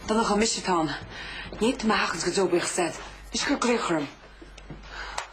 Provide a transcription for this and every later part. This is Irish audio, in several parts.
Donncha, mise atá ann. Ní tú mo theacht go deo buíochas agat. Is cuir glaoch orm.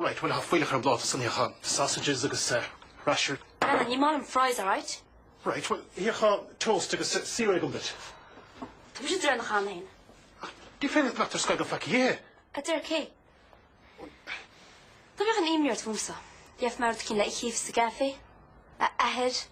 Right, bhuel, tá fuílleach ar an bpláta san, thiocfá, sausages agus rasher. Ah no, ní maith liom fries, alright? Right, bhuel, thiocfá, toast agus cereal duit. Tá mise de réir na chan féin. Ach ní féidir liom glactar scoigeal faic a dh'ithe. It's okay. Ná bíodh aon imní ort, muise. Gheobhaidh mé rud eicínt le a chifs sa gcaifé, a Athair.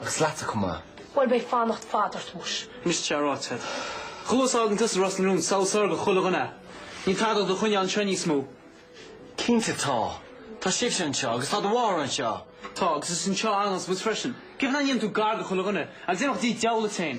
Agus leatsa chomh maith. Bhuel, beidh fanacht fad ort, muis. Miste a rá tead. Chomh luath is a fhágann tusa Ros na Rún, is amhlaidh is fearr do chuile dhuine é. Níl tada ag do choinneáil anseo níos mó. Cinnte tá. Tá sibhse anseo agus tá do mháthair anseo. Tá, agus is anseo a fhanfas muid freisin. Cén fáth nach ndéanann tú gar do chuile dhuine, agus imeacht i dtigh diabhail duit féin.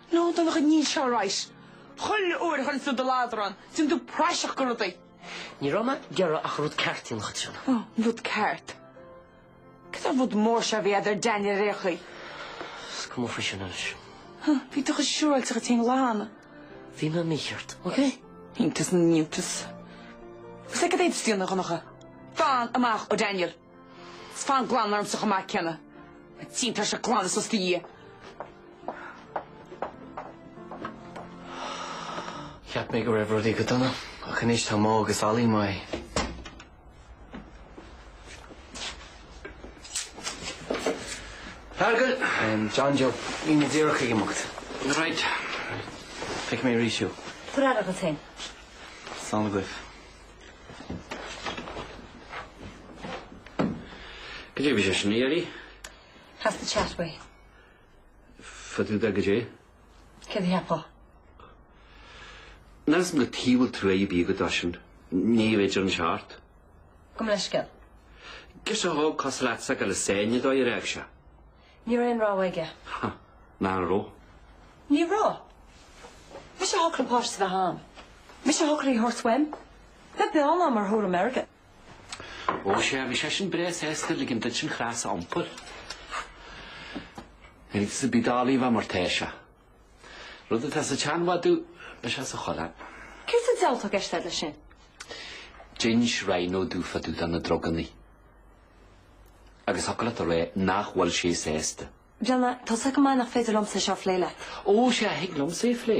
Nó do Dhonncha, níos fearr arís. Chuile uair a chuireann tú do ladar ann, déanann tú praiseach de rudaí. Ní raibh mé ag iarraidh ach an rud ceart a dhéanamh, a Cháit. Ó, an rud ceart. Céard é an rud mór seo a bhí agat ar Daniel ar aon chaoi? Is cuma faoi sin anois. Há, bhí tú chomh siúráilte díot féin an lá cheana. Bhí mé mícheart, okay? Iontas na n-iontas. Agus céard a d'inis tú do Dhonncha? Fan amach ó Daniel. Is fan glan ormsa chomh maith céanna. An tSín, tá sé glan is osta Dhia. Cheap mé go raibh rudaí go dona, ach anois tá Mo agus Ollie imithe. Feargal! John Joe, níl mé díreach ag imeacht. Right. Feicfidh mé arís thú. Tabhair aire duit féin. Slán agaibh. Goidé a bhí sé sin a iarraidh. Has the chat way. Fadúda goidé? Céard a cheapfá? Níl a fhios agam cad chuige a bhfuil trua ar bith agat dó sin. Ní fhéidir an seart. Gabh mo leithscéal? Girseach óg cosúil leatsa go le sain i dó a rádh sé. Ní raibh aon rogha aige. Ha, nár raibh? Ní raibh. Mise a shocraigh páiste a bheith agam. Mise a shocraigh é a thabhairt uaim. Beag beann ar thuairim airgid. Ó, sea, bhí sé sin breá sásta ligean duit an chros a iompar. Ag sa Bhí Dálaí i bhfad mar tá sé. Rud atá sa tseanmhadadh, beidh sé sa choileán. Céard sa diabhal atá i gceist agat leis sin? D'inis Ríona domh fadúda na drugannaí. Agus thig leat a rá nach bhfuil sé sásta. Ríona, tá a fhios agat go maith nach féidir liomsa é seo a phlé leat. Ó, sea, a thig liomsa é a phlé.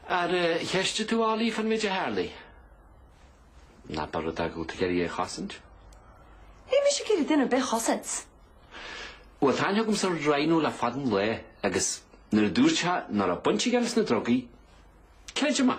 Ar cheistigh tú Ali fán méid a tharlaigh? Nó ab é rud é go bhfuil tú ag iarraidh é a chosaint. Níl mise ag iarraidh duine ar bith a chosaint. Bhuel, tá aithne agamsa ar Rhino le fada an lae agus nuair a dúirt sé nach raibh baint aige leis na drugaí, creidim é.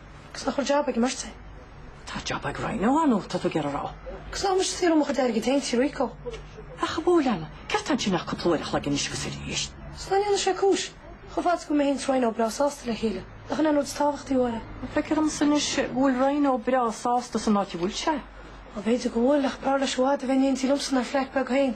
Agus nach bhfuil jab ag an mbeirt? Tá jab ag Rhino atá tú ag iarraidh a rá. Agus nach bhfuil mise ag saothrú mo chuid airgid féin, Tigh Rico? Ach a bhuail ann, céard tá ansin ach cúpla uair a chloig anois agus arís? Is nach ndéanann sé cúis. Chomh fada is go bhfuil mé féin is Rhino breá sásta le chéile, nach in é an rud is tábhachtaí a Mháire? Feictear dhomsa anois go bhfuil Rhino breá sásta san áit a bhfuil sé? Bhuel, b'fhéidir go bhfuil, ach b'fhearr leis i bhfad a bheith in éindí liomsa inár bhflait beag féin.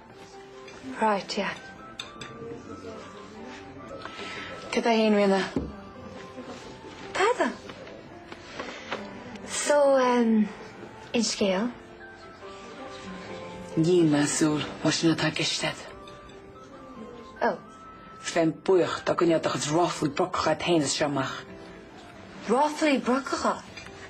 Right yeah. Cad é haon rinne? Tada! So aon scéal? Níl mé ag súil más é sin atá i gceist agat. Oh. Is bheinn buíoch dá gcoinneofá do chuid ráflaí brocacha agat féin as seo amach. Ráflaí brocacha?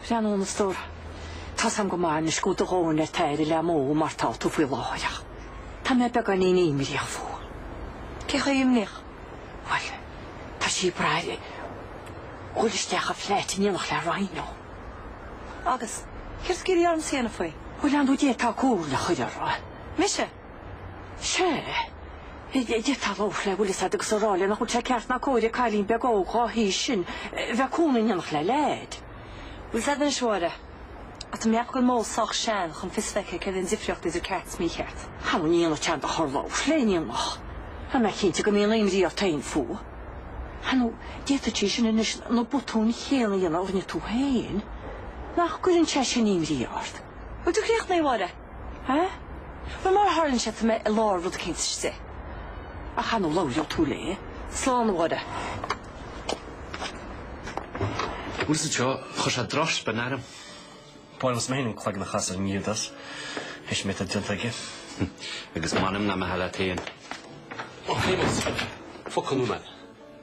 Breathnaigh a stór. Tá a fhios agam go maith anois go bhfuil do dhóthain ar t'aire le Mo mar tá tú faoi láthair ach tá mé beagáinín imníoch fúithi. Cé chomh imníoch? Bhuel, tá sí ag brath ar dhul isteach i bhflait in éineacht le Rhino. Agus céard tá tú ag iarraidh ormsa a dhéanamh faoi? Bhuel, an bhféadfá comhairle a chur uirthi? Mise? Sea. D'fhéadfá labhairt léi, bhfuil a fhios agat, agus a rá léi nach bhfuil sé ceart ná cóir ag cailín beag óg dhá haois sin bheith ina cónaí in éineacht le leaid. Bhfuil a fhios agat anois a Mháire, tá mé ag ceapadh go bhfuil Mo sách sean chun fios a bheith aici céard é an difríocht idir ceart is mícheart. Sea nó ní dhéanfadh sé aon dochar labhairt léi, an ndéanfadh? Tá mé cinnte go mbíonn imní ort fhéin fúithi. Sea nó d'fhéadfadh sí sin anois na botúin chéanna a dhéanamh a rinne tú fhéin. Nach gcuireann sé sin imní ort? Bhfuil tú críochnaithe a Mháire? Eh? Bhuel, mar a tharlaíonn sé, tá mé i lár rud éicint istigh. Ach an labhróidh tú léi. Slán a Mháire. Bhuel is anseo, chuir sé droch spin orm. Bhuel, is mé féin an cloigeann a chasadh ar an Iúdás. Is an méid atá déanta aige. Agus m'anam nach mbeifeá leat féin. Ó, a Shéamais, focal nua.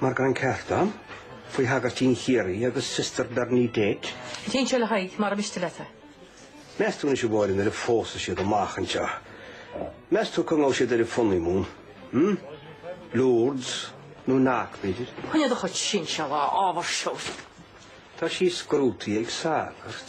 Mar gan ceart ann, faoi Shagairtín Chiarraí agus Sister Bernadette. Déanfaidh sin a Thaidhg mara miste leat. Meas tú anois a Mháirín an bpósfaidh siad amach anseo? Meas tú cá ngabhfaidh siad ar a honeymoon? Hm? Lourdes nó Knock b'fhéidir? Chuine do chuid sin se lá ábhar seo. Tá sí scrúdaithe ag sagart.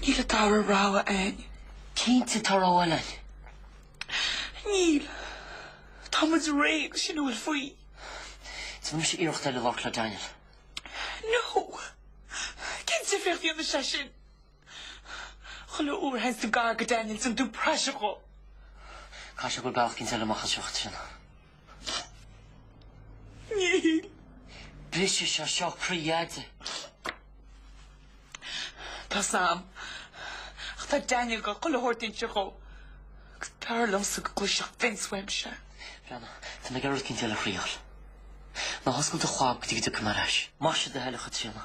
Níl an dara rogha ann. Cinnte tá rogha eile ann. Níl. Tá muid réidh sin a bhfuil faoi. Déanfaidh mise iarracht eile labhairt le Daniel. No! Cén difríocht a dhéanfaidh sé sin? Chuile uair a théanns tú gar go Daniel déanann tú praiseach dhó. Caithfidh sé go bhfuil bealach eicínt eile amach as seo ach sin. Níl. Brisfidh sé seo croí Dheaide. Tá a fhios agam. Ach tá Daniel ag goil chuile shórt a inseacht dhó. Agus b'fhearr liomsa go gcloisfeadh Vince uaimse é. Breathnaigh, tá mé ag goil rud eicínt eile a thriail. Ná hoscail do chlab go dtí go dtiocfaidh mé ar ais. Más é do thoil é, a Chaitríona.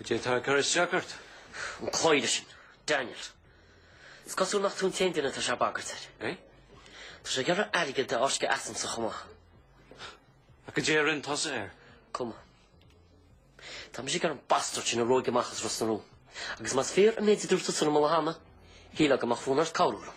Goidé atá ag cur isteach ort? An cloíre sin, Daniel. Is cosúil nach tú an t-aon duine atá sé ag bagairt air. Eh? Tá sé ag iarraidh airgead a fháisceadh asamsa chomh maith. Ach goidé a rinne tusa air? Is cuma. Tá mise ag iarraidh an bastard sin a ruaig amach as Ros na Rún. Agus más fíor an méid a dúirt tusa liom an lá cheana, shílfeá go mbeadh fonn ort cabhrú liom.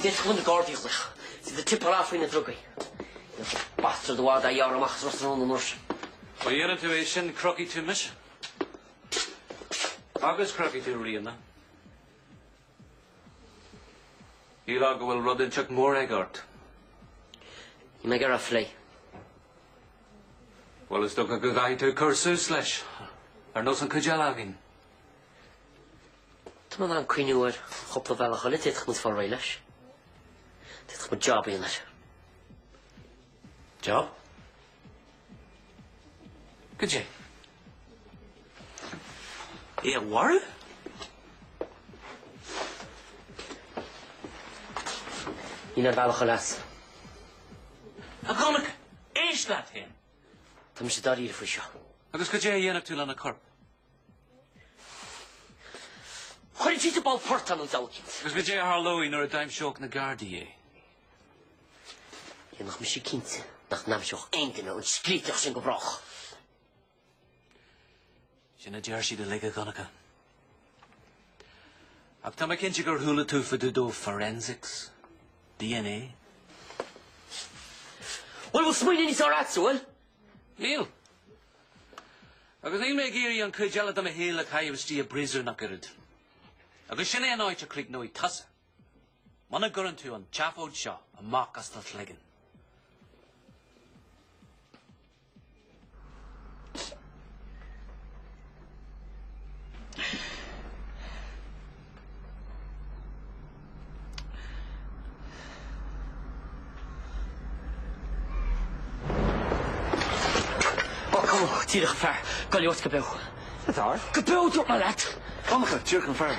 D'fhéadfadh muid na Gardaí a ghlaoch leis an tip-off faoi na drugaí. Ní bheidh an bastard i bhfad dá ghearradh amach as Ros na Rún an uair sin. Má dhéanann tú é sin crochfaidh tú mise. Agus crochfaidh tú Ríona. Shílfeá go bhfuil rud inteacht mór aige ort. Níl mé ag iarraidh é a phlé. Bhuel, is dócha go gcaithfidh tú cur suas leis, ar nós an chuid eile againn. Tá mé in ann cuimhniú ar chúpla bealach eile a d'fhéadfadh muid fáil réidh leis. D'fhéadfadh muid job a dhéanamh air. Job? Goidé? É a mharú? Níl aon bhealach eile as. A Dhonncha, éist leat féin! Tá mise dáiríre faoi seo. Agus goidé a dhéanfadh tú lena chorp? Chuirfeadh muid i bpoll portaigh in áit eicínt. Agus goidé a tharlódh nuair a d'aimseodh na Gardaí é? Dhéanfadh mise cinnte nach n-aimseodh aon duine an scríteach sin go brách. Sin a deir siad uilig, a Dhonncha. Ach tá mé cinnte gur chuala tú fá dtaobh de forensics, DNA. Bhuel, bhfuil smaoineamh níos fearr agatsa, an bhfuil? Níl. Agus níl mé ag iarraidh an chuid eile de mo shaol a chaitheamh istigh i bpríosún ach oiread. Agus sin é an áit a chríochnóidh tusa. Muna gcuireann tú an tseafóid seo amach as do chloigeann. Ó, cam amach, díreach an fear. Go leor, go beo. Go dár? Go beo, dúirt mé leat! Cam amach, díreach an fear.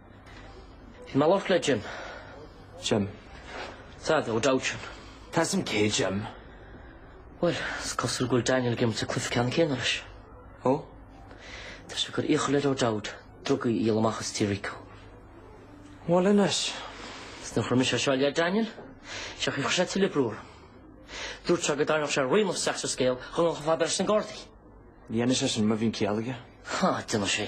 Bhí mé ag labhairt le Jim. Jim. Sea, O'Dowd sin. Tá a fhios a'm cé hé Jim. Bhuel, is cosúil go bhfuil Daniel ag imirt an cluife ceannann céanna leis. Ó? Tá sé ag cur iachall ar O'Dowd drugaí a dhíol amach as Tigh Rico. Bhuel anois. Is nuair a chuir mise seo le Daniel, séard chuir sé tuilleadh brú orm. Dúirt sé go dtarraingeodh sé Ríona isteach sa scéal dhá ngabhfainn chomh fada leis na Gardaí. Ní dhéanfaidh sé sin, má bhíonn ciall aige. Há, déanfaidh sé.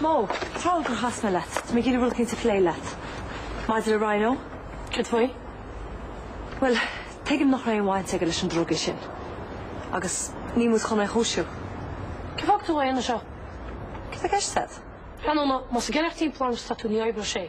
Mo, Tharla gur chas mé leat. Tá mé ag iarraidh rud éicint a phlé leat. Maidir le Rhino, céard faoi? Bhuel, tuigim nach raibh aon bhaint aige leis na drugaí sin. Agus níl muid chun é a chúisiú. Cén fáth a bhfuil tú anseo? Céard atá i gceist a'd? Tráthnóna, más ag ceannacht an plean atá tú, ní oibreoidh sé.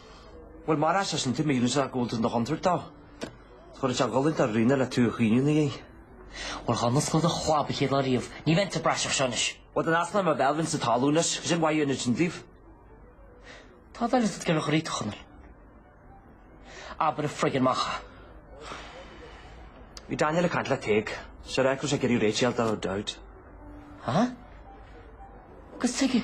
Bhuel, mar a fheiceann seisean é, measann sé go bhfuil tú i do chontúirt dó. Go raibh sé ag goil a thabhairt Ríona le tú a chaoineadh ina dhiaidh. Bhuel, dhá n-osclófá do chlab a chéad lá riamh, ní bheinn sa bpraiseach seo anois. Bhuel, dá n-osclóinn mo bhéal, bheinn sa talún anois, is cén mhaith a dhéanfadh sin daoibh. Tá an diabhal ort ag iarraidh do dhruid, a Chonaill. Abair a friggin' amach é. Bhí Daniel ag caint le Tadhg. Séard a chuir sé ag iarraidh réiteach le O'Dowd. Hah? Agus Tadhg?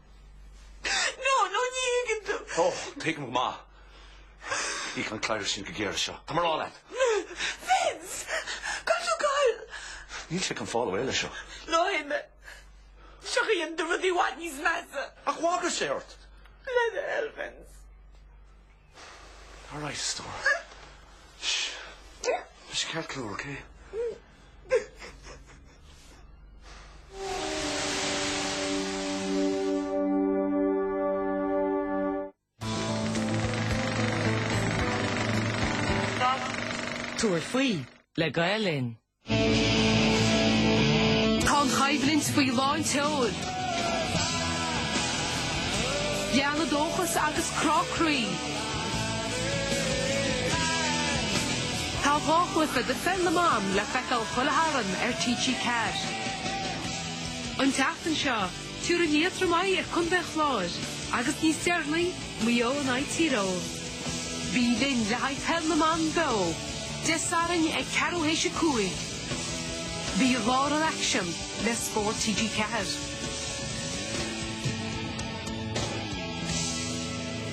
No, no, ní thuigeann tú. Ó, tuigim go maith. Íocfaidh an cladhaire sin go géar as seo. Tá mé a rá leat. Vince! Caithfidh tú gabhail! Níl sé chun fáil away leis seo. No, hear me. Seo chuirfidh tú rudaí i bhfad níos measa. Ach bhagair sé ort! Le do thoil, Vince. All right, a stór. Sh! Just ceann cool, ok? Tabhair faoi le Gael Linn. Tá an choimhlint faoi lán tseoil. Lán le dóchas agus crá croí. Tá dhá chluiche de Pheil na mBan le feiceáil chuile Satharn ar TG4. An tseachtain seo, tabharfaidh Liatroim aghaidh ar Chontae an Chláir agus níos deireanaí, Maigh Eo in aghaidh Tír Eoghain. Bí linn le haghaidh Peil na mBan beo Dé Sathairn ag ceathrú théis a cúig. Bí i lár an aicsin le Spórt TG4.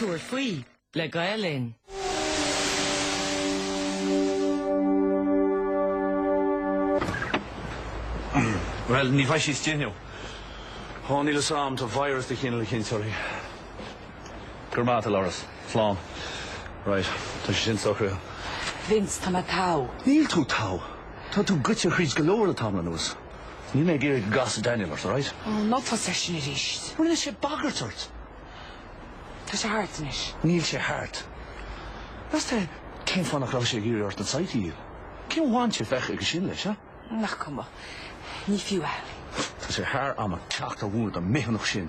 Tabhair faoi le Gael Linn. Bhuel, ní bheidh sí istigh inniu. Ó, níl a fhios a'm, tá virus de chineál eicínt uirthi. Go raibh maith agat, Loras. Slán. Right, tá sé sin socraithe. Vince, tá mé togha. Níl tú togha. Tá tú goite thríd go leor le tamall anuas. Níl mé ag iarraidh go gcasfadh Daniel ort, alright? Ó, ná tosaigh air sin arís. Rinne sé bagairt ort. Tá sé thart anois. Níl sé thart. Meas tú cén fáth nach raibh sé ag iarraidh ort an site a dhíol? Cén bhaint a bheadh aige sin leis, a? Nach cuma. Ní fiú é. Tá sé thar am a theacht abhus ón mbithiúnach sin.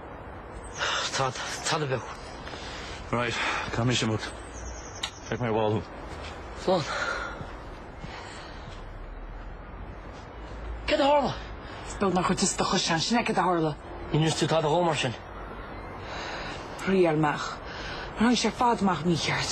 Tá, tada beag. Right, tá mise amuigh? Feicfidh mé ar ball thú. Slán. Céard a tharla? Is beag nár chuir tusa do chois ann, sin é céard a tharla? Níor inis tú tada dhó mar sin. D'éirigh amach. Mar tháinig sé ar fad amach mícheart.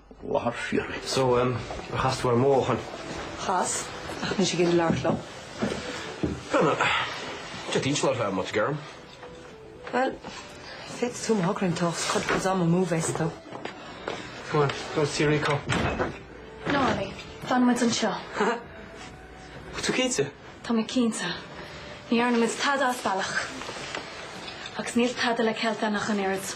le barr fíoraí. So, ar chas tú ar Morgan. Chas, ach níl sé ag iarraidh labhairt liom. Brenna, Dia d'inseal ar feadh amuigh, geirim. Bhuel, féadfaidh tú má thograíonn tú do chuid ama a chur amú leis. Go on, go see Rico. No, Abbie, fanfaimid anseo. Ha! Tá tú cinnte? Tá mé cinnte. Ní dhearnaimid tada as bealach. Agus níl tada le ceilt againn ach an oiread.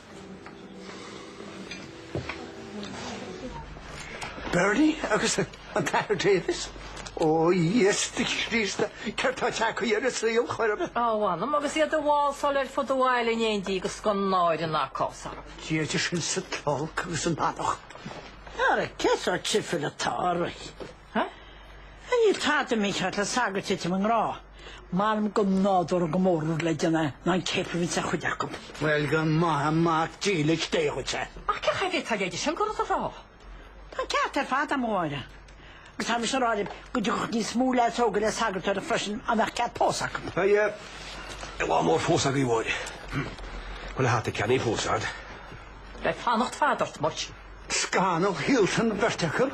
Bernie agus an tAthair Davies. Ó Íosa Críost, céard atá ag teacht ar an saol chor ar bith. Á m'anam, agus iad ag válsáil ar fud an bhaile in éindí agus gan náire ná cás orthu. Dia idir sinn is an t-olc agus an anachain. Ara cén sórt seafóid atá oraibh. Ha? Ha níl tada mícheart le sagart titim i ngrá. M'anam gur nádúrtha go mór an rud le déanamh ná an céapar a bhíonns ar chuid acu. Bhuel, go maithe mac dílis Dé dhuit é. Ach cé thú féin atá leithéid sin a rá? Tá an ceart ar fad aige, a Mháire. Agus tá mise á rá riamh go dtiocfadh níos mó leaids óga le sagartóireacht freisin dá mbeadh cead pósta acu. Beidh lá mór fós agaibh, Mháire. Bhuel, ar hata a cheannaigh tú fós, an? Beidh fanacht fada ort, Mike. Scannal Hilton Vertical?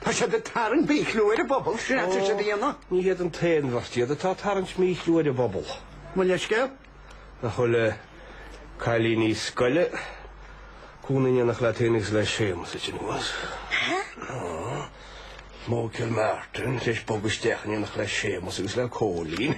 Tá siad ag tarraingt míchlú ar an bpobal, sin atá siad a dhéanamh. Ní hiad an t-aon bheirt iad atá ag tarraingt míchlú ar an bpobal. Mo leithscéal. Nach bhfuil dhá chailín scoile ina gcónaí in éineacht leat féin agus le Séamus anois. Mo Gilmartin, tar éis bogadh isteach in éineacht le Séamus agus le Cóilín.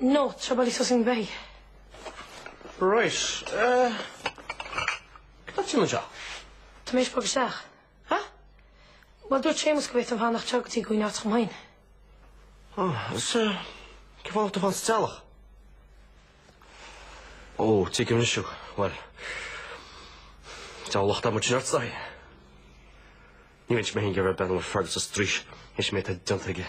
No, Trabal i Sussing Bay. Right. Eh, cad atá tú anseo? Tá mé ag th'éis bogadh isteach. Ha? Bhuel, dúirt Séamus go bhféadfainn fanacht anseo go dtí go ngearrtar chomh maith. Ah, is eh, cén fáth go bhfuil tú fán sa teallach? Ó, tuigim anois, bhuel, tá an locht adhmaid sin ort, Dáithí. Ní bheinnse mé féin ag iarraidh bheith mór Fergus sa straois, th'éis an méid atá déanta aige.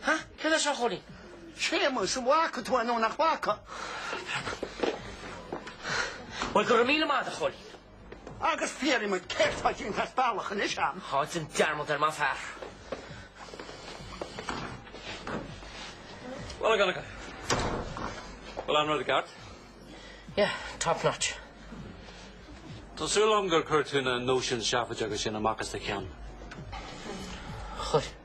Ha? Céard é seo a Chóilí? Séamus, an bhfaca tú é nó nach bhfaca? Breandán. Bhuel, go raibh míle maith agat a Chóilí. Agus fiafraigh díom, céard tá déanta as bealach anois agam? Déan dearmad air, maith an fear. Bhuel, go dtuga. Bhuel, an rud ceart? Yeah, top notch. Tá súil agam gur chuir tú na nóisin seafóideacha sin amach as do cheann. Chuir.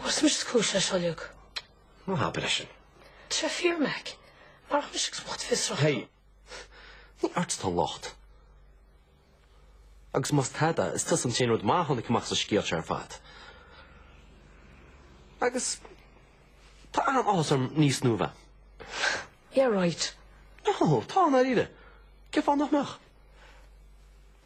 Bhuel, mise is cúis leis seo uilig? Ná habair é sin. Tá sé fíor, Mack. Marach mise agus mo chuid fiosrachta. Hey! Ní ort atá an locht. Agus más tada, is tusa an t-aon rud maith a tháinig amach as an scéal seo ar fad. Agus tá an-áthas orm níos nua. Yeah, right. Ó, tá, i ndáiríre. Cén fáth nach mbeadh?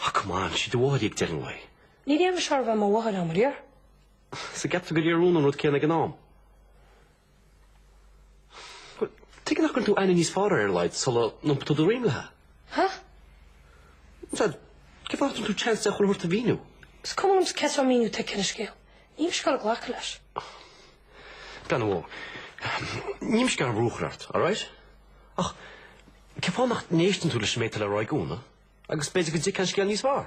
Ah come on, sí do mháthair í ag deireadh an lae. Ní fhéadfadh sí a bheith mar mháthair dom ariamh. So cheap tú go léir rún an rud céanna ag an am. Well, tuige nach gcuireann tú aithne níos fearr uirthi ar a laghad sula n-iompaíonn tú do dhroim léi? Ha? Sea, cén fáth nach dtugann tú chance di chuile shórt a mhíniú? Is cuma liomsa céard é an míniú atá aici ar an scéal. Níl mise ag goil ag glacadh leis. Breathnaigh, Mo. Níl mise ag goil brú a chur ort, alright? Ach cén fáth nach n-éisteann tú leis an méid atá le rá ag Úna agus b'fhéidir go dtuigfeá an scéal níos fearr?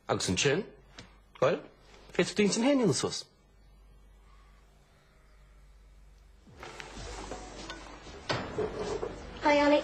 Agus ansin, bhuel, féadfaidh tú d'intinn féin a dhéanamh suas. Hi Ollie.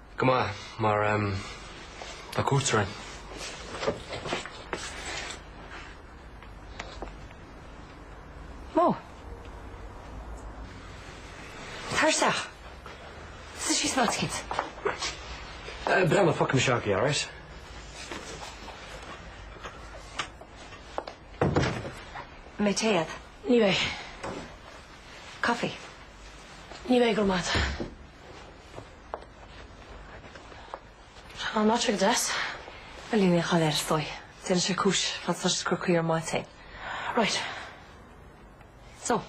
Go maith, mar a cuirtear in. Mo. Tar isteach. Suidh síos ná tuigint. Breath mo phoc miseach í, alright? Mé téad. Ní mé. Coffee. Ní mé, grma. Tá an áit go deas. Bhuel, níl aon chaill air is dóigh. Déanfaidh sé cúis fad is atá siad ag cur caoi ar m'áit féin. Right. So.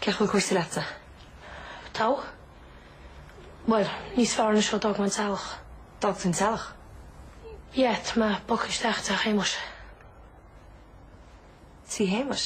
Cén chaoi a bhfuil cúrsaí leatsa? Togha? Bhuel, níos fearr anois ó d'fhág mé an teallach. D'fhág tú an teallach? Yeah, tá mé bogtha isteach tigh Shéamuis. Tigh Shéamuis?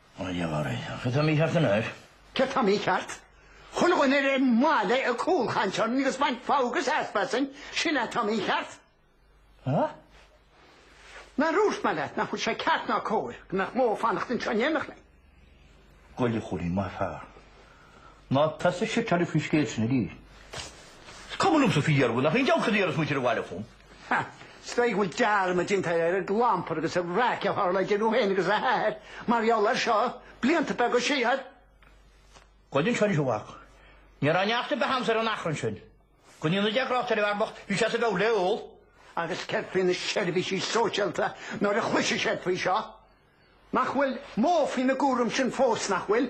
Mar gheall ar é. Céard atá mícheart, an ea? Céard atá mícheart? Chaon duine ar an mbaile ag cúlchaint orainn agus ag baint fogha agus easpa asainn, sin é atá mícheart. Há? Nár dhúirt mé leat nach bhfuil sé ceart ná cóir go mbeadh Mo ag fanacht anseo in éineacht linn? Gabh i leith, a Chóilí, maith an fear. Ná tosaigh ag seitríl faoin scéal sin arís. Is cuma liomsa faoi dhearbhú nach aon deabhcháirí ar is muintir an bhaile chugam. Ha! Is dóigh go bhfuil dearmad déanta ar an gclampar agus an raic a tharla idir thú féin agus a hathair mar gheall air seo blianta beaga siar. Gabh i leith anseo anois a mhac. Ní raibh neart ar bith agamsa ar an achrann sin. Go ndéana Dia grásta ar an bhfear bocht, bhí sé as a mheabhair le hól. Agus céard faoi na seirbhísí sóisialta nuair a chloisfidh siad faoi seo? Nach bhfuil Mo faoina gcúram sin fós, nach bhfuil?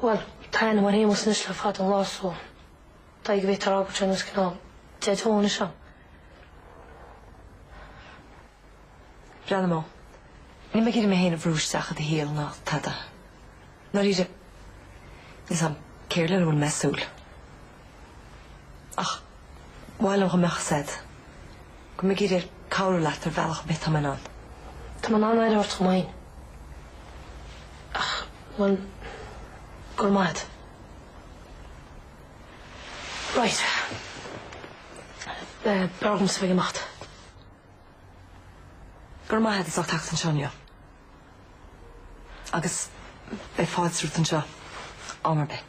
Bhuel, tá aithne agam ar Shéamus anois le fada an lá so d'fhág go bhféadtar fhágáilt ar nós cineál daideo anois ann. Breathnaigh, Mo. Níl mé ag iarraidh mé féin a bhrú isteach i do shaol, ná tada. Dáiríre, níl a fhios agam céard lena bhfuil mé ag súil. Ach ba mhaith liom go mbeadh a fhios agat go bhfuil mé ag iarraidh cabhrú leat ar bhealach ar bith atá mé in ann. Tá mé in ann éirí ort chomh maith. Ach bhuel, go raibh maith agat. Right. B'fhearr dhomsa a bheith ag imeacht. Go raibh maith agat as ucht teacht anseo inniu. Agus beidh fáilte romhat anseo am ar bith.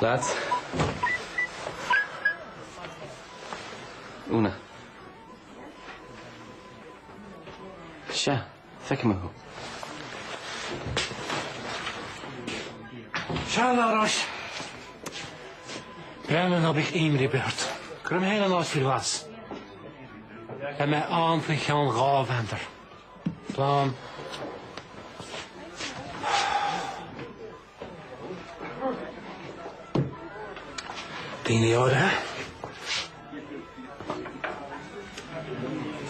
Lads. Úna. Sea, feicfidh mé thú. Slán anois. Breandán ná bíodh aon imní ar bith ort. Cuirfidh mé féin an áit faoi ghlas. Beidh mé ann faoi cheann dhá mheandar. Daoine áirithe.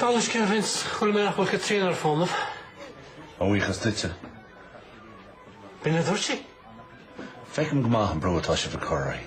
Dála an scéil, Vince, chuala mé nach bhfuil Caitríona ar fónamh. A bhuíochas duitse. B'in a dúirt sí. Feicim go maith an brú atá sibh ag cur uirthi.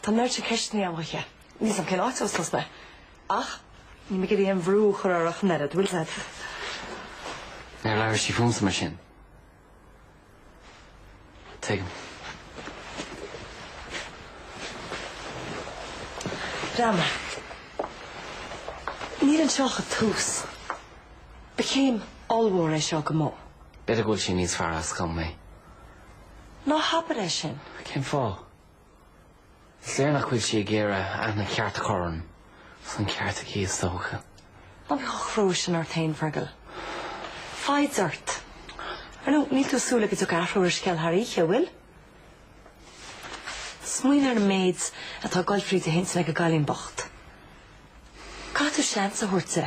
Tá an oiread sin ceisteanna agam chuici. Níl 's agam cén áit a thosós mé. Ach níl mé ag iarraidh aon bhrú a chur uirthi ach an oiread, bhfuil a fhios agat? Níor labhair sí fúmsa mar sin. Tuigim. Breandán, níl anseo ach an tús. Ba chéim ollmhór é seo do Mo. B'fhéidir go bhfuil sí níos fearr as gan mé. Ná habair é sin. Cén fáth? Is léir nach bhfuil sí ag iarraidh aithne cheart a chur orm, is an ceart aici is dócha. Ná bí chomh crua sin ort féin, Fergal. Foighid ort. Ar ndóigh, níl tú ag súil go dtiocfaidh athrú ar an scéal thar oíche, an bhfuil? Smaoin ar an méid atá ag goil fríd a hintinn ag an gcailín bocht. Caithfidh tú seans a thabhairt di.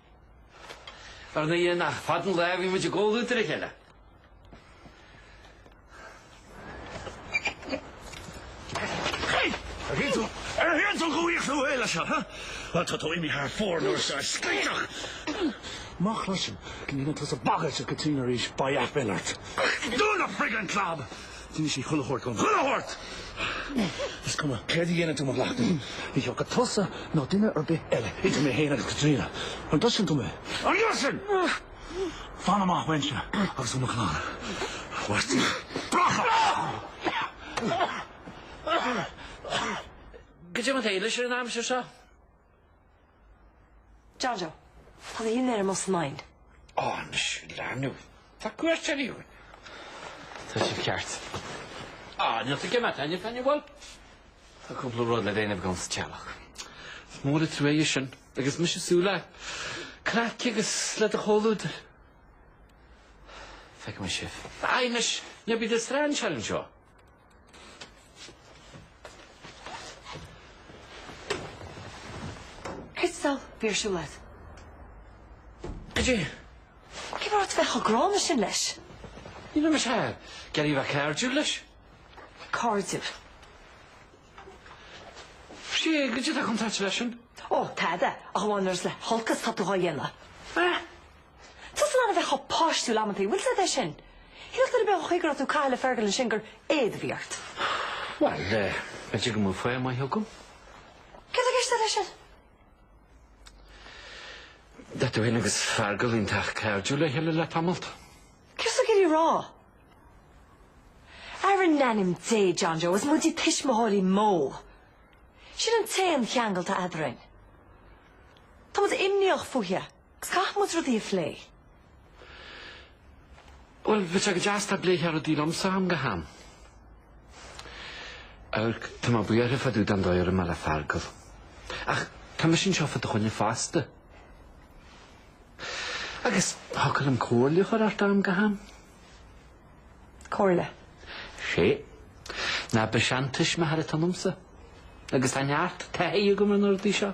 Ar an Aoine nach fad an lae bhí muid ag ól údair a cheile. Ar shuíonn tú, ar shuíonn tú go uaigh thú uile seo, ha? Bhuel, tá tú imithe thar fóir nuair is as scaithteach. Má chloisim go ndéanann tú sa bhagairt ag go tinn arís, ba dheath binn ort. Do na friggin club! D'inis sí chuile shórt dhom. Chuile shórt! Is cuma céard a dhéanann tú, McLaughlin, ní thiocfaidh tusa ná duine ar bith eile idir mé féin agus Caitríona. An gcloiseann tú mé? An gcloiseann? Fan amach uaimse agus ó mo chlann. A Mháirtín. Bracha! Goidé an t-éile sin an aimsir seo. John Joe, Tá an dinnéar amuigh san oigheann. Á, anois, a leanbh, tá cuairteoir agaibh. Tá sin ceart. Á, níl tú ag imeacht, Aine, Aine, bhuel, tá cúpla rud le déanamh agam sa teallach. Is mór an trua é sin agus mise ag súil le craic agus le do chomhluadar. Feicfidh mé sibh. Á, anois, ná bí i do strainséir anseo. Crystal, bhí ar siúl leat. Goidé? Cén fáth a raibh ort bheith chomh gránna sin leis? Ní raibh mise ach ag iarraidh a bheith cairdiúil leis. Cairdiúil? Sea, goidé atá contráilte leis sin. Ó, tada, ach amháin nuair is le holcas atá tú dhá dhéanamh. Eh? Tá tusa in ann a bheith chomh páistiúil amantaí, an bhfuil a fhios agat é sin. Cheapfadh duine ar bith an chaoi a raibh tú ag caitheamh le Fergal ansin gur éad a bhí ort. Bhuel, b'fhéidir go mbeadh fáth maith agam? Céard atá i gceist agat leis sin? Bhuel, tá tú féin agus Fergal iontach cairdiúil le chéile le tamallt. Céard atá tú ag iarraidh a rá? Ara, in ainm Dé, John Joe, is muide tuismitheoirí Mo. Sin an t-aon cheangal atá eadrainn. Tá muid imníoch fúithe. Caithfidh muid rudaí a phlé. Bhuel, bheadh sé go deas dá bpléifeá rudaí liomsa ó am go ham. Amharc, tá mé buartha fá dtaobh den dóigh a raibh mé le Feargal. Ach tá mise anseo fá do choinne fosta. Agus thiocfadh liom comhairle a chur ort ó am go ham. Comhairle? Sea. Nach seantuismitheoir atá ionamsa. Agus tá neart taithí agam ar na rudaí seo.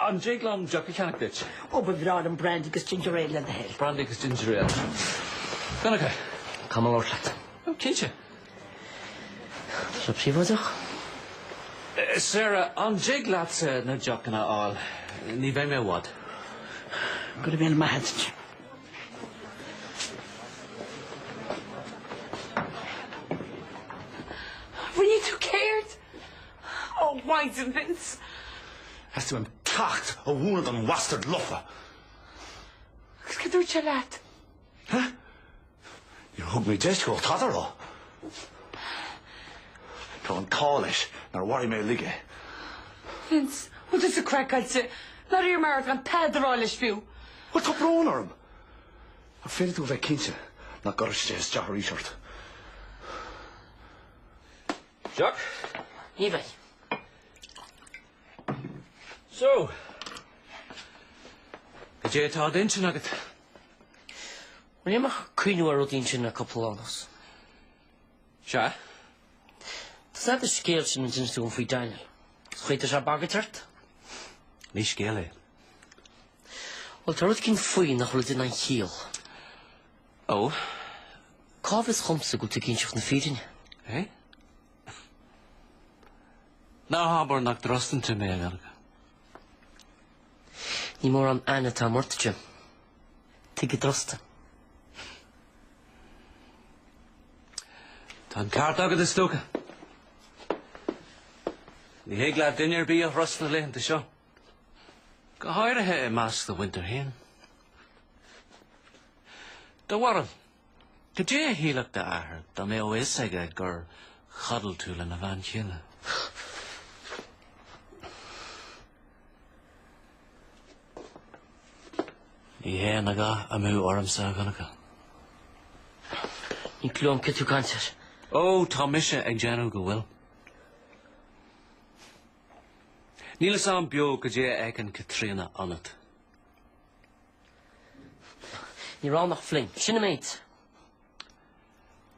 An dtig liom deoch a cheannach duit? Ó, ba bhreá liom brandy agus ginger ale le do thoil. Brandy agus ginger ale. A Dhonncha? Caithfidh mé labhairt leat? Ó, cinnte. Go príobháideach? Eh, Sarah, an dtig leatsa na deochanna a fháil? Ní bheidh mé i bhfad. Go raibh maith agat. Ó, a Mhaighdean, Vince? Theastaigh uaim ceacht a mhúineadh don bhastard lofa. Agus cad a dúirt sé leat? Huh? Níor thug mé deis dó tada a rá. Tá an t-ádh leis nár mharaigh mé uilig é. Vince, an bhfuil tusa craiceáilte. Nár iarr mé ort gan tada a rá leis fiú. Bhuel tá brón orm. Ach féadfaidh tú a bheith cinnte nach gcuirfidh sé isteach arís ort. Deoch? Ní bheidh. So, goidé atá ar d'intinn agat? Bhí mé ag cuimhneamh ar rud eicínt le cúpla lá anuas. Sea? Tá a fhios agat an scéal sin a d'inis tú dhom faoi Daniel? Is an chaoi atá sé ag bagairt ort? Ní scéal é. Bhuel, tá rud eicínt faoi nach bhfuil ag déanamh aon chiall. Ó, cá bhfios dhomsa go bhfuil tú ag inseacht na fírinne, hé? Ná habair nach dtrustann tú mé a bheilg? Ní mórán aithne atá a'm ort. Tuige a dtrustfainn? Tá an ceart agat, is dócha. Ní thig le duine ar bith a thrust na laethanta seo, go háirithe i measc do mhuintir féin. Do bharúil, goidé a shílfeadh d'athair, dá mbeadh a fhios aige gur chodail tú lena bhean chéile. Ní théann a dhath amú ormsa, a Dhonncha. Níl clue a'm cad tá tú ag caint air. Ó, tá mise ag déanamh go bhfuil. Níl fhios a'm beo goidé a fheiceann Caitríona ionat. Ní raibh ann ach fling. Sin an méid.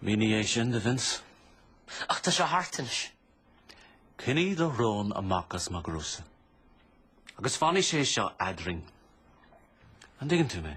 Mínigh é sin do Vince. Ach tá sé thart anois. Coinnigh do shrón amach as mo ghnósa. Agus fanfaidh sé seo eadrainn. An dtuigeann tú mé?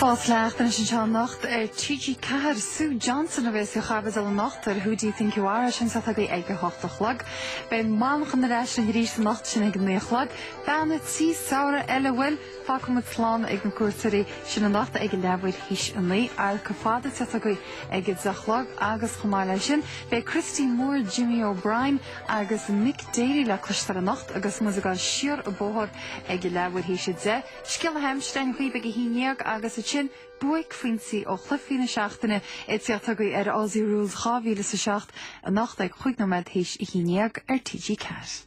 Fós le teacht anois anseo anocht ar TG4. Sue Johnston a bhéas faoi chaibidil anocht ar Who Do You Think You Are? Sin ag teacht chugaibh ag a hocht a chlog. Beidh Manchán ar ais arís anocht sin ag a naoi a chlog. Bean an tí samhradh eile bhuel. Fágfaidh muid slán ag na cuairteoirí sin anocht ag leathuair théis a naoi, An Teorainn Fhada ag teacht chugaibh ag a deich a chlog agus chomh maith leis sin beidh Christy Moore, Jimmy O'Brien agus Mick Daly le cloisteáil anocht agus muid ag gabhail siar an bóthar ag leathuair théis a deich, scéala na haimsire ansin chugaibh ag a haon déag agus ansin buaicphointí ó chluichí na seachtaine ag tíocht chugaibh ar Aussie Rules dhá mhíle is a seacht anocht ag chúig nóiméad théis a haon déag ar TG4.